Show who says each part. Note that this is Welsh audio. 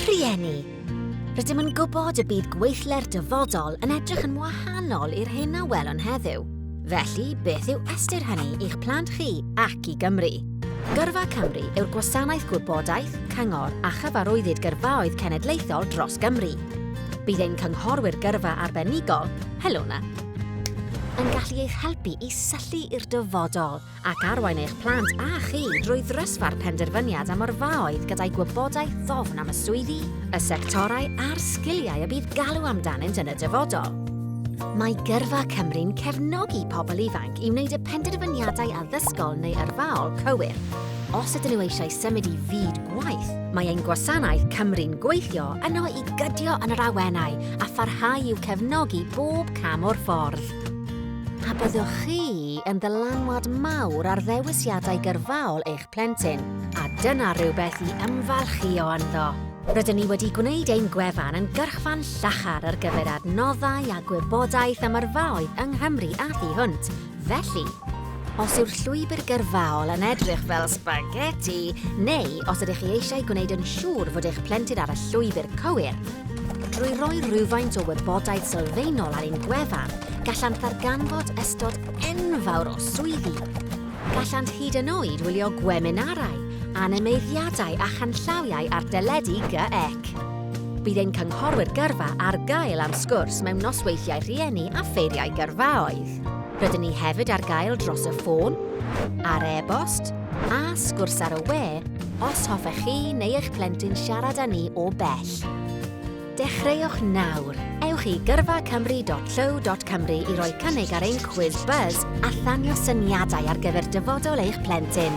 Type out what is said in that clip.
Speaker 1: Rhieni, Rydym yn gwybod y bydd gweithle'r dyfodol yn edrych yn wahanol i'r hyn a welwn heddiw. Felly, beth yw ystyr hynny i'ch plant chi ac i Gymru? Gyrfa Cymru yw'r gwasanaeth gwybodaeth, cyngor a chyfarwyddyd gyrfaoedd cenedlaethol dros Gymru. Bydd ein cynghorwyr gyrfa arbenigol, Helona, yn gallu eich helpu i syllu i'r dyfodol ac arwain eich plant a chi drwy ddrysfa'r penderfyniad am yrfaoedd gyda'i gwybodaeth ddofn am y swyddi, y sectorau a'r sgiliau y bydd galw amdanynt yn y dyfodol. Mae Gyrfa Cymru'n cefnogi pobl ifanc i wneud y penderfyniadau addysgol neu yrfaol cywir. Os ydyn nhw eisiau symud i fyd gwaith, mae ein gwasanaeth Cymru'n gweithio yno i gydio yn yr awenau a pharhau i'w cefnogi bob cam o'r ffordd. A byddwch chi yn ddylanwad mawr ar ddewisiadau gyrfaol eich plentyn, a dyna rhywbeth i ymfalchïo ynddo. Rydyn ni wedi gwneud ein gwefan yn gyrchfan llachar ar gyfer adnoddau a gwybodaeth am yrfaoedd yng Nghymru a thu hwnt, felly, os yw'r llwybr gyrfaol yn edrych fel sbageti, neu os ydych chi eisiau gwneud yn siŵr fod eich plentyn ar y llwybr cywir, Drwy roi rhywfaint o wybodaeth sylfaenol ar ein gwefan, gallant ddarganfod ystod enfawr o swyddi. Gallant hyd yn oed wylio gweminarau, animeiddiadau a chanllawiau ar deledu GEC. Bydd ein cynghorwyr gyrfa ar gael am sgwrs mewn nosweithiau rhieni a ffeiriau gyrfaoedd. Rydyn ni hefyd ar gael dros y ffôn, ar e-bost, a sgwrs ar y we os hoffech chi neu eich plentyn siarad â ni o bell. Dechreuwch nawr! Ewch i gyrfacymru.llyw.cymru i roi cynnig ar ein cwiz buzz a thanio syniadau ar gyfer dyfodol eich plentyn.